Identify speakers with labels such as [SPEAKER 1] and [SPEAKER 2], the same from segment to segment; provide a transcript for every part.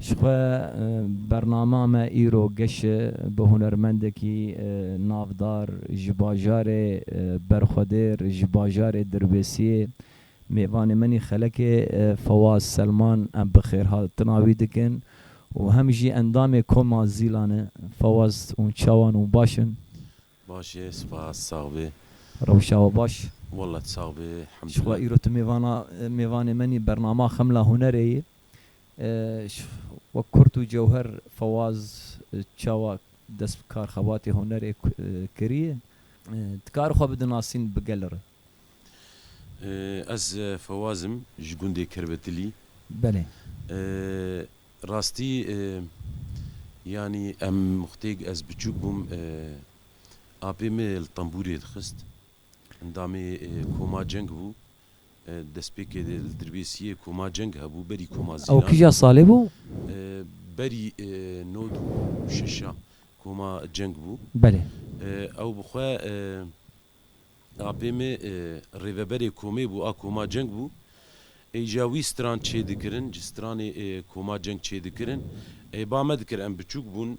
[SPEAKER 1] Ji xwe bernama me îro geş e bi hunermendekî navdar ji bajarê Berxwedêr ji bajarê Dirbêsiyê mêvanê min ê xelekê Fewaz Selman em bi xêrhatina wî dikin û hem jî endamê koma Zîlan e. Fewaz û çawan û baş in? Baş e
[SPEAKER 2] spas sax bê. Rewşa we baş?
[SPEAKER 1] Walla sax bê Ji
[SPEAKER 2] xwe hemdullah. îro tu
[SPEAKER 1] mêvana mêvanê min î bernama Xemla Hunerê yê. Wek kurt û cewher Fawaz çawa dest bi kar xebatê hunerê kiriye? Dikare xwe bidinasîn bi gel re?
[SPEAKER 2] Ez Fawaz im ji gundê Kerbetilî. Belê.
[SPEAKER 1] Rastî
[SPEAKER 2] yanî em muxtêg ez biçûk bûm apê min li tembûrê dixist. Endamê Koma Ceng bû. Destpêkê li Dirbêsiyê Koma Ceng hebû, berî Koma Zîlan. Ew kîja salê bû?
[SPEAKER 1] Berî
[SPEAKER 2] nod û şeş a Koma Ceng bû. Belê.
[SPEAKER 1] Ew bi xwe
[SPEAKER 2] apê me rêveberê komê bû a Koma Ceng bû. Ê jîya wî stran çêdikirin, ji stranê Koma Ceng çêdikirin. Ê ba me dikir em biçûk bûn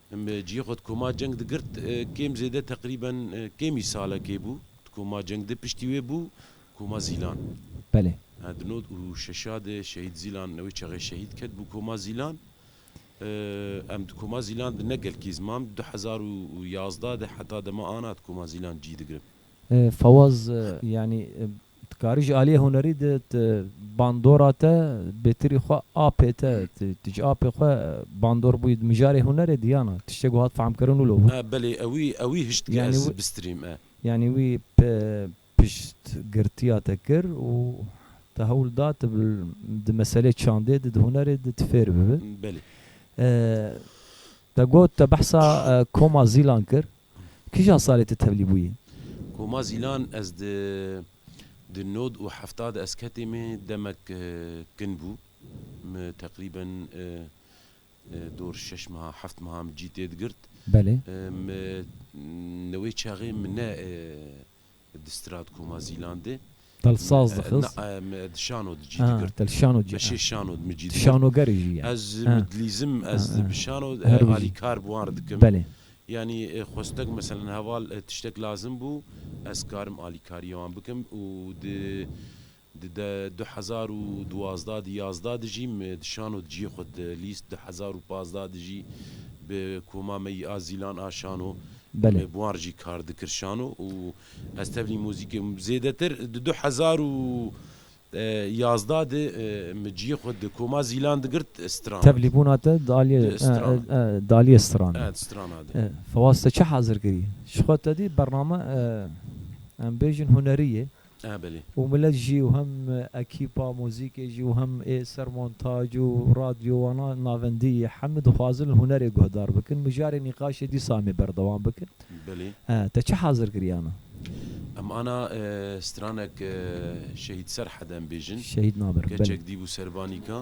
[SPEAKER 2] Min bi cihê xwe di koma ceng de girt, kêm zêde teqrîben kêmî salekê bû, di koma ceng de piştî wê bû koma Zîlan. Belê.
[SPEAKER 1] Di nod û
[SPEAKER 2] şeşa de şehîd Zîlan li wê çaxê şehîd ket bû koma Zîlan. Em di koma Zîlan de ne gelkî ziman bi du hezar û yazdeh de heta dema ana di koma Zîlan cî digirin. Fawaz,
[SPEAKER 1] yanî Ti karî ji aliyê hunerî de ti bandora te bêtirî xwe apê te, ti ji apê xwe bandor bûyî di mijarê hunerê de yan e? Tiştê ku hat fehmkirin wilo bû. A belê ewî ewî
[SPEAKER 2] hişt ke ez bistîrîm e. Yanî
[SPEAKER 1] wî
[SPEAKER 2] piştgirtiya
[SPEAKER 1] te kir û te hewl da tu di meselê çandê de di hunerê de ti fêr bibi. Belê. Te got te behsa koma zîlan kir. Kija salê tu tevlî bûyî? Koma
[SPEAKER 2] Zîlan ez di di nod û hefta de ez ketê me demek kin bû. Mi teqrîben dor şeş meha heft meha min cî tê digirt.
[SPEAKER 1] Mi
[SPEAKER 2] li wê çaxê min ne Di Stratkoma Zîlan de. Tel saz dixiz.
[SPEAKER 1] Na, me di şano di cî
[SPEAKER 2] digirtin. Tel şano cî. Me şê şano
[SPEAKER 1] di min cî digirtin.
[SPEAKER 2] Şanogerê jî ye.
[SPEAKER 1] Ez min dilîzim,
[SPEAKER 2] ez bi şano alî kar bi wan re dikim. Belê. Yanî xwestek meselen heval tiştek lazim bû, ez karim alîkariyê wan bikim û di Di de du hezar û duwazdeh di yazda di jî me di şano di ciyê xwe di lîst du hezar û pazdeh di jî bi koma me yî a Zîlan a şano me bi wan
[SPEAKER 1] jî kar dikir
[SPEAKER 2] şano û ez tevlî muzîkê zêdetir di du hezar û yazdeh di me ciyê xwe di koma Zîlan digirt Stranad. Tevlî bûna te di aliyê
[SPEAKER 1] di aliyê Stranê di Stranad e.
[SPEAKER 2] Fewaz te çi hazir
[SPEAKER 1] kirî? Ji xwe tedî bername em bêjin hunerî yê. Ah belê. Û
[SPEAKER 2] milet jî û
[SPEAKER 1] hem ekîpa muzîkê jî û hem ê ser montaj û radyo wana navendî yê hemû dixwazin hunerê guhdar bikin. Mijarê nîqaşê dîsa em ê berdewam bikin. Belê. Ah te
[SPEAKER 2] çi hazir
[SPEAKER 1] kiriyana? Em ana
[SPEAKER 2] stranek Şehîd Serhed em bêjin. Şehîd Namir. Belê. Keçek
[SPEAKER 1] dî bû servanîka.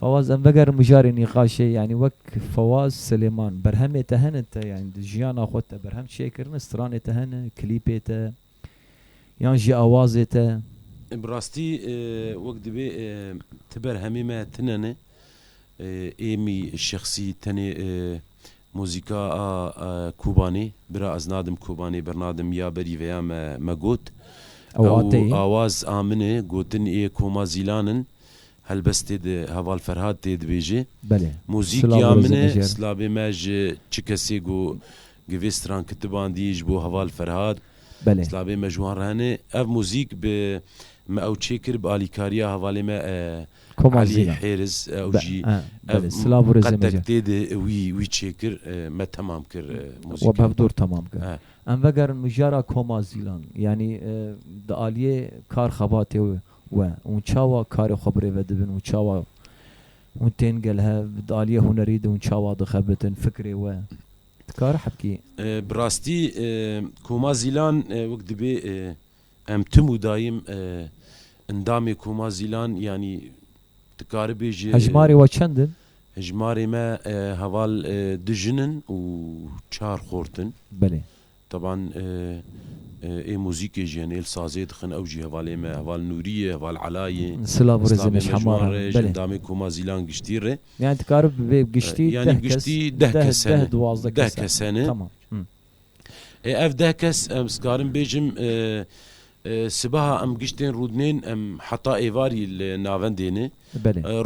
[SPEAKER 1] Fawaz em vegerin mijarê nîqaşê yanî wek Fawaz Silêman berhemê te hene te yanî di jiyana xwe te berhem çê kirine stranê te hene klîpê te yan jî awazê te? Bi rastî
[SPEAKER 2] wek dibê ti berhemê me tune ne êmî şexsî tenê muzîka a Kobanê bira ez nadim Kobanê bernadim ya berî veya me me got ew awaz a min e gotin ê koma zîlan in Helbestê di heval Ferhad tê dibêjê. Belê. Muzîk
[SPEAKER 1] ya min e,
[SPEAKER 2] silavê me ji çi kesê ku gi vê stran kitibandî ji bo heval Ferhad. Belê. Silavê me
[SPEAKER 1] ji wan re hene.
[SPEAKER 2] Ev muzîk bi me ew çêkir bi alîkariya hevalê me Elî Hêriz. Ew jî ev qetek
[SPEAKER 1] tê de wî
[SPEAKER 2] wî çêkir me temam kir muzîka. We bi hev dor temam kir.
[SPEAKER 1] Em vegerin mijara Koma Zîlan. Yanî di aliyê kar xebatê we hûn çawa karê xwe birêve dibin û çawa hûn tên gel hev di aliyê hunerî de hûn çawa dixebitin fikrê we dikare hebkê. Bi rastî
[SPEAKER 2] Koma Zîlan wek dibê em tim û dayim endamê Koma Zîlan yanî dikare bêje. Hejmarê we çend in?
[SPEAKER 1] Hejmarê me
[SPEAKER 2] heval du jin in û çar xort in. Belê.
[SPEAKER 1] Taban
[SPEAKER 2] ê muzîkê jî hene, ê li sazê dixin, ew jî hevalê me, heval Nûrî ye, heval Ela ye. Silav û rêzên me ji
[SPEAKER 1] heman re, ji endamên koma
[SPEAKER 2] Zîlan giştî re. Yanî dikarib bê
[SPEAKER 1] giştî deh kes. Yanî giştî deh
[SPEAKER 2] kes hene. Deh, duwazdeh kes hene.
[SPEAKER 1] Deh kes hene. Tamam.
[SPEAKER 2] Ê ev deh kes em dikarim bêjim, Sibeha em giştên Rûdnên em heta êvarî li navendê ne.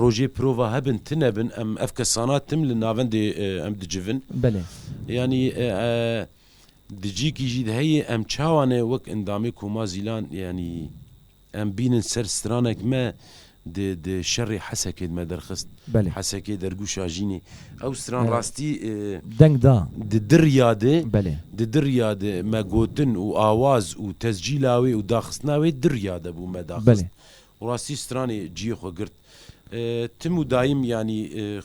[SPEAKER 2] Rojê
[SPEAKER 1] prova hebin
[SPEAKER 2] ti nebin em ev kesana tim li navendê em dicivin.
[SPEAKER 1] Yanî
[SPEAKER 2] di cîkî jî heye em çawa ne wek endamê Koma Zîlan yanî em bînin ser stranek me Di di şerê Hesekê me derxist. Belê. Hesekê dergû
[SPEAKER 1] Şajînê.
[SPEAKER 2] Ew stran rastî Deng da.
[SPEAKER 1] di dirriya de,
[SPEAKER 2] Belê. di dirriya
[SPEAKER 1] de
[SPEAKER 2] me gotin û awaz û tescîla wê û daxistina wê dirriya de bû me Belê. daxist. Û rastî
[SPEAKER 1] stranê
[SPEAKER 2] ciyê xwe girt. Tim û dayim yanî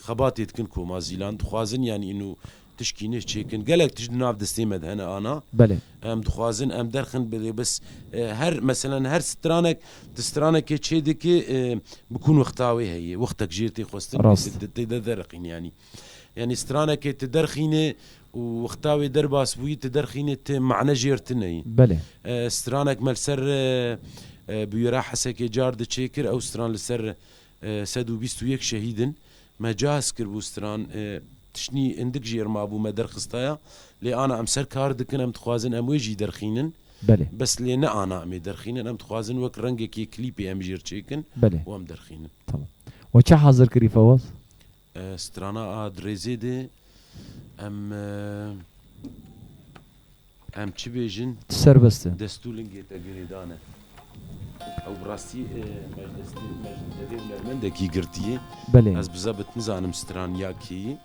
[SPEAKER 2] xebatê dikin koma Zîlan. Dixwazin yanî îno Tişkînê çêkin gelek tişt di nav destê me de hene ana Belê. em dixwazin
[SPEAKER 1] em
[SPEAKER 2] derxin belê bis her meselen her stranek tu stranekê çê dikî bi kûn wexta wê heye wextek jê tê xwestin Rast. tê tê de derxîn yanî yanî stranekê tu derxînê û wexta wê derbas bûyî tu derxînê tu mane jêr tu neyî Belê.
[SPEAKER 1] stranek me li
[SPEAKER 2] ser bi wî re hesekê car di çê kir ew stran li ser Sed û bîst û yek şehîdin. Me cihaz kiribû stran. Tiştî hindik jê ir mabû me derxistaya. Lê ana em ser kar dikin em dixwazin em wê jî derxînin. Belê. Bes lê
[SPEAKER 1] ne ana
[SPEAKER 2] em ê derxînin em dixwazin wek rengekê klîpê em jê ir çêkin û em derxînin.
[SPEAKER 1] Tamam.
[SPEAKER 2] We çi
[SPEAKER 1] hazir kirî Fewaz? Strana
[SPEAKER 2] a dirêzê de em em çi bêjin? Ti serbest e. Dest
[SPEAKER 1] û lingê te
[SPEAKER 2] girêdan e. Ew bi rastî meclistê meclistevê hunermendekî girtîyê. Belê. Ez bi zebit
[SPEAKER 1] nizanim
[SPEAKER 2] stran ya kê yî.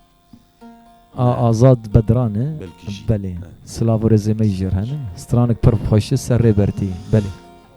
[SPEAKER 2] A
[SPEAKER 1] Azad Bedran e? Belkî jî. Belê.
[SPEAKER 2] Silav
[SPEAKER 1] û rezê me jî jêr hene. Stranik pir xweş e, serrê bertî. Belê.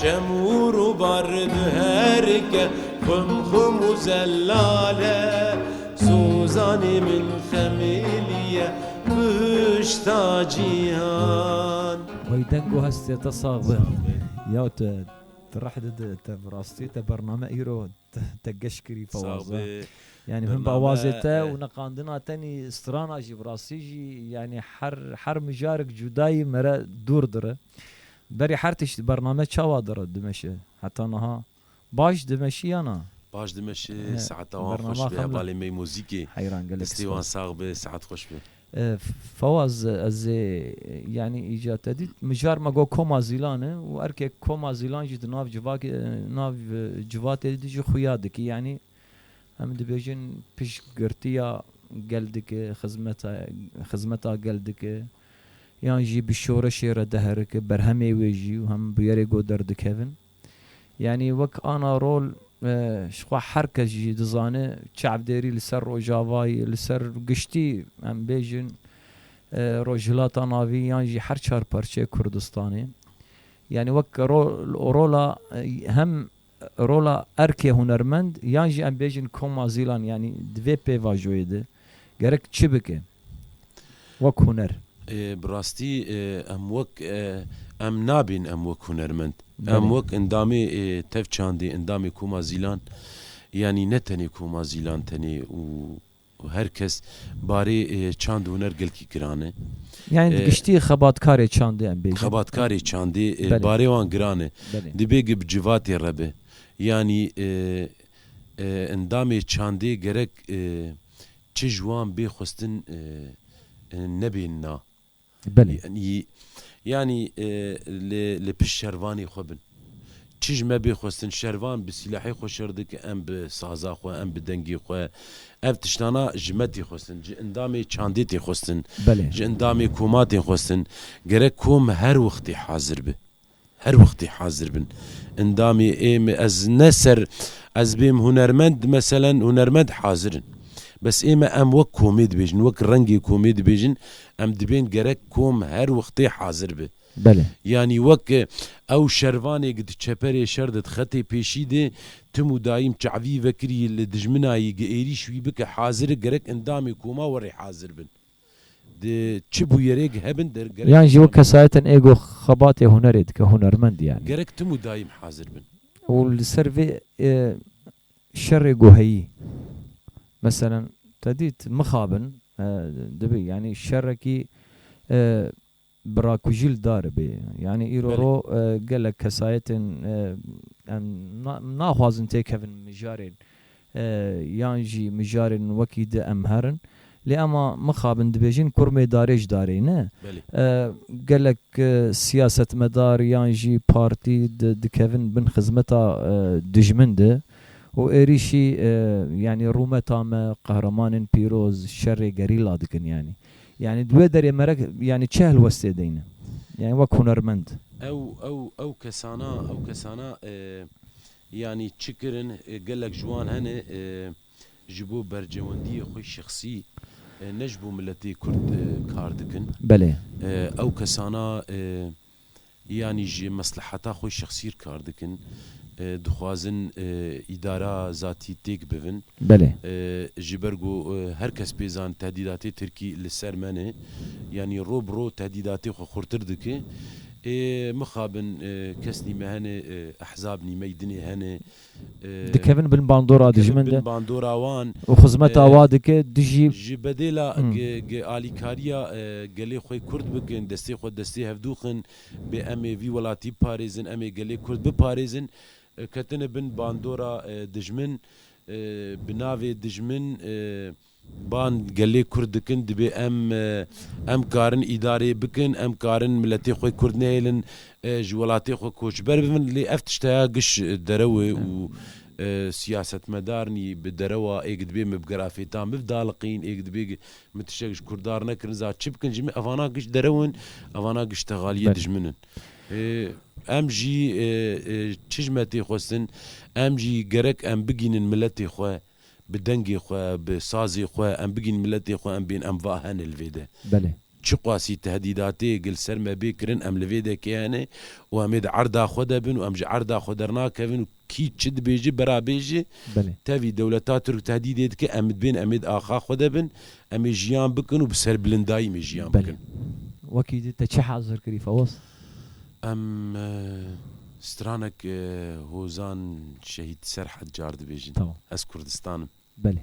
[SPEAKER 2] Çem û rûbar diherike, xwim xwim û zelal e. Sozanê min xemilî ye, bihişta cîhan. Wey deng û
[SPEAKER 1] hestê te sax be. Ya tu tu reh dide te bi rastî te bername îro te geş kirî pawaza yanî him bi awazê te û neqandina tenî strana jî bi rastî jî yanî her her mijarek cudayî mere dûr dire. Berê her tişt bername çawa dire dimeşe heta niha baş dimeşî ya na? Baş dimeşi
[SPEAKER 2] saeta wan xweş be balê mey mozîkê destê wan
[SPEAKER 1] sax be saet
[SPEAKER 2] xweş be. Fawaz
[SPEAKER 1] ez ê yanî îca te dît mijar me got koma zîlan e û erkê koma zîlan jî di nav civakê nav civatê de jî xuya dikî yanî em dibêjin piştgirtiya gel dike xizmeta xizmeta gel dike. yan jî bi şoreşê re diherike berhemê wê jî û hem bûyerê got derdikevin. Yanî wek ana rol ji xwe her kes jî dizane çavdêrî li ser Rojavayê, li ser giştî em bêjin Rojhilata Navî yan jî her çar parçeyê Kurdistanê yanî wek rola hem Rola erkê hunermend yan jî em bêjin koma zîlan yanî di vê pêvajoyê de gerek çi bike wek huner? Bi rastî
[SPEAKER 2] em wek em nabîn em wek hunermend. Em wek endamê tev çandê, endamê koma zîlan yanî ne tenê koma zîlan tenê û Ku her kes barê çand huner gelkî giran e. Yanî di giştî
[SPEAKER 1] xebatkarê çandê em bêjin. Xebatkarê çandê
[SPEAKER 2] barê wan giran e. Dibê gi bi civatê re be. Yanî endamê çandê gerek çi ji wan bê xwestin nebê na.
[SPEAKER 1] Belê.
[SPEAKER 2] Yanî lê li pişt şervanê xwe bin. Çij me bê xwestin şervan bi sîlahê xwe şer dike, em bi saza xwe, em bi dengê xwe. Ev tiştana ji me tê xwestin, ji endamê çandê tê xwestin, ji endamê
[SPEAKER 1] koma tê
[SPEAKER 2] xwestin. Gerek kom her wextê hazir be. Her wextê hazir bin. Endamê êm e ez ne ser ez bêm hunermend meselen hunermend hazir in. Bes êm e em wek komê dibêjin wek rengê komê dibêjin em dibên gerek kom her wextê hazir bi. Belê. Yanî
[SPEAKER 1] wek
[SPEAKER 2] ew şervanê gi di çeperê şer de di xetê pêşî de tim û dayîm çavî vekirî li dijminayî gi êrîş wî bike hazir e gerek endamê koma werê hazir bin. Di çi bûyerêk hebin der gerek Yan jî wek kesayetên
[SPEAKER 1] êgo xebatê hunerê dike hunermend yanî. Gerek tim û daîm
[SPEAKER 2] hazir bin. Û li ser vê
[SPEAKER 1] şerê guheyî meselen te dît mixabin dibî yanî şerekî Bi rakujîl daribê. Yanî îro ro gelek kesayetên em naxwazin têkevin mijarên yan jî mijarên wekî di em herin. Lê ema mixabin dibêjin kurmê darê ji darê ne.
[SPEAKER 2] Gelek
[SPEAKER 1] siyasetmedar yan jî partî dikevin bin xizmeta dijmin de û êrîşî yanî rûmeta me, qehremanên pîroz, şerê gerîla dikin yanî. Yanî di wê derê me re yanî çi helwestê deyne? Yanî wek hunermend. Ew ew ew
[SPEAKER 2] kesana ew kesana yanî çi kirin gelek ji wan hene ji bo bercewendiyê xwe şexsî ne ji bo miletê Kurd kar dikin. Belê.
[SPEAKER 1] Ew kesana
[SPEAKER 2] yanî ji mesleheta xwe şexsî re kar dikin, dixwazin îdara zatî têk bivin. Belê.
[SPEAKER 1] Ji ber ku
[SPEAKER 2] her kes pê zan tehdîdatê Tirkî li ser me ne, yanî roj bi roj tehdîdatê xwe xurtir dike. Ê mixabin kesnî me hene, ehzabnî meydinê hene, dikevin
[SPEAKER 1] bin bandora dijmin de
[SPEAKER 2] û xizmeta wa dike
[SPEAKER 1] tu jî ji bedêla
[SPEAKER 2] alîkariya gelê xwe kurd bikin destê xwe destê hevdûxin bê em ê vî welatî biparêzin em ê gelê kurd biparêzin ketine bin bandora dijmin bi navê dijmin Ban gelê Kurd dikin dibê em em karin îdareyê bikin, em karin miletê xwe Kurd nehêlin ji welatê xwe koçber bibin lê ev tişt heya giş derewê û siyasetmedarn yî bi derewa êg dibê me bi gera fêtan bib daliqîn êg dibê min tiştek ji Kurdar nekirin za çi bikin ji min evana giş derewin evana giş texaliyê dijmin in. Em jî çi ji me tê xwestin em jî gerek em bigînin miletê xwe Bi dengê xwe, bi sazê xwe em bigîn miletê xwe em bên em va hene li vê de. Belê. Çiqasî tehdîdatê gi li ser me bê kirin em li vê de kê hene û em ê di erda xwe de bin û em ji erda xwe dernakevin û kî çi dibêje bera bêje. Belê. Tevî
[SPEAKER 1] dewleta Tirk
[SPEAKER 2] tehdîdê dike em dibên em ê di axa xwe de bin, em ê jiyan bikin û bi serbilindayî mê jiyan Belê. bikin. Wekî te
[SPEAKER 1] çi hezir kirî Fewaz? Em
[SPEAKER 2] stranek hozan şehîd Serhed car dibêjin. Ez Kurdistan
[SPEAKER 1] im.
[SPEAKER 2] Belê.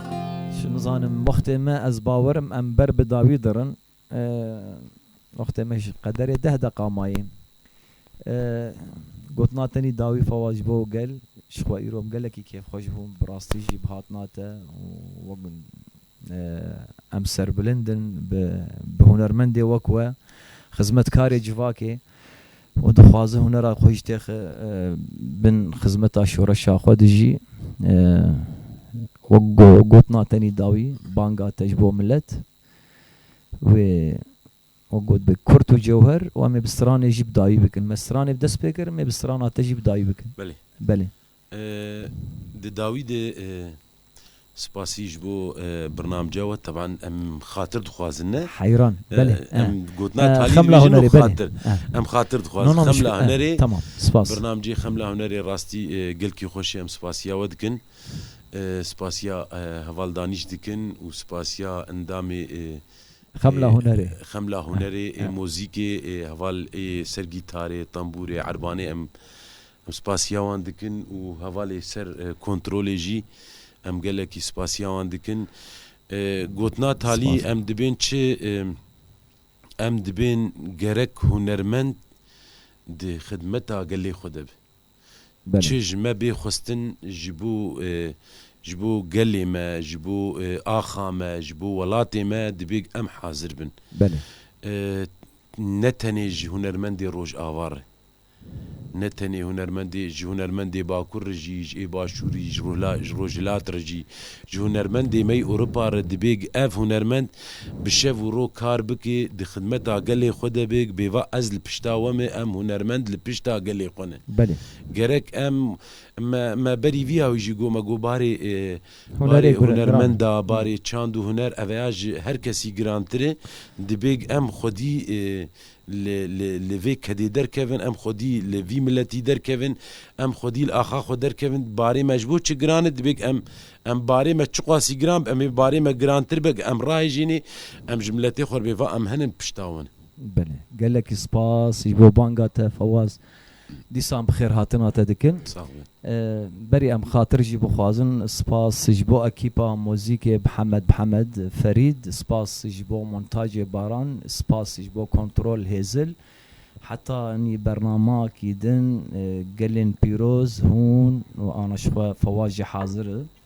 [SPEAKER 1] Çi nizanim wextê me ez bawerim em ber bi dawî dirin. Wextê me ji qederê deh deqa mayê. Gotina tenî dawî fawa ji bo gel ji xwe îro gelekî kêfxweş bûm bi rastî jî bi hatina te û wek em serbilind in bi hunermendê wek we, xizmetkarê civakê. û dixwaze hunera xwe jî têxe bin xizmeta şoreşa xwe de jî wek gotina te nî dawî banga te ji bo milet wê wek gotibê kurt û cewher û em ê bi stranê jî bi dawî bikin. Me stranê bi dest pê kirin, em ê bi strana te jî bi dawî bikin. Belê. Belê.
[SPEAKER 2] Di dawî de spasî ji bo birnamca we teban em xatir dixwazin ne? Heyran, belê.
[SPEAKER 1] Em gotina
[SPEAKER 2] talî dibêjin û xatir.
[SPEAKER 1] Em
[SPEAKER 2] xatir dixwazin. Xemla Hunerê, birnamceyê
[SPEAKER 1] Xemla Hunerê
[SPEAKER 2] rastî gelkî xweş e em spasiya we dikin. Spasiya heval danîş dikin û spasiya endamê Xemla
[SPEAKER 1] Hunerê Xemla Hunerê
[SPEAKER 2] ê mozîkê ê heval ê ser gîtarê, tembûrê, erbanê em Spasiya wan dikin û hevalê ser kontrolê jî em gelekî spasiya wan dikin. Gotina Talî em dibên çi? Em dibên gerek hunermend di xidmeta gelê xwe de be. Çi ji me bê xwestin ji bo ji bo gelê me, ji bo axa me, ji bo welatê me dibê em hazir bin. Ne tenê ji hunermendê Rojava re Ne tenê hunermendê, ji hunermendê Bakur re jî, ji ê Başûrî, ji Rûhla, ji Rojhilat re jî, ji hunermendê me yî Ewropa re dibê gi ev hunermend bi şev û rok kar bikê, di xidmeta gelê xwe de bê, bê va ez li pişta we me, em hunermend li pişta gelê xwe ne. Belê. Gerek
[SPEAKER 1] em,
[SPEAKER 2] me, me berî vî yawî jî got, me got barê, Hunerê barê gure, giran hunermenda, e. barê çand û huner, ev ya ji her kesî girantir e, dibê em xwedî, Li li li vê kedê derkevin, em xwedî li vî miletî derkevin, em xwedî li axa xwe derkevin, barê me ji bo çi giran e, divêg em em barê me çiqasî giran be, em ê barê me girantir be em rahêjînê, em ji miletê xwe re bê va em hin in pişta wan. Belê.
[SPEAKER 1] Gelekî spas ji bo banga te Fewaz. Dîsan bi xêr hatina te dikin. Berî em xatir jî bixwazin. Spas ji bo ekîpa muzîkê Bihemed Bihemed, Ferîd, spas ji bo montacê Baran, spas ji bo kontrol Hêzil. Heta nî bernama kî din gelên pîroz, hûn û ana ji xwe Fewaz jî hazir i.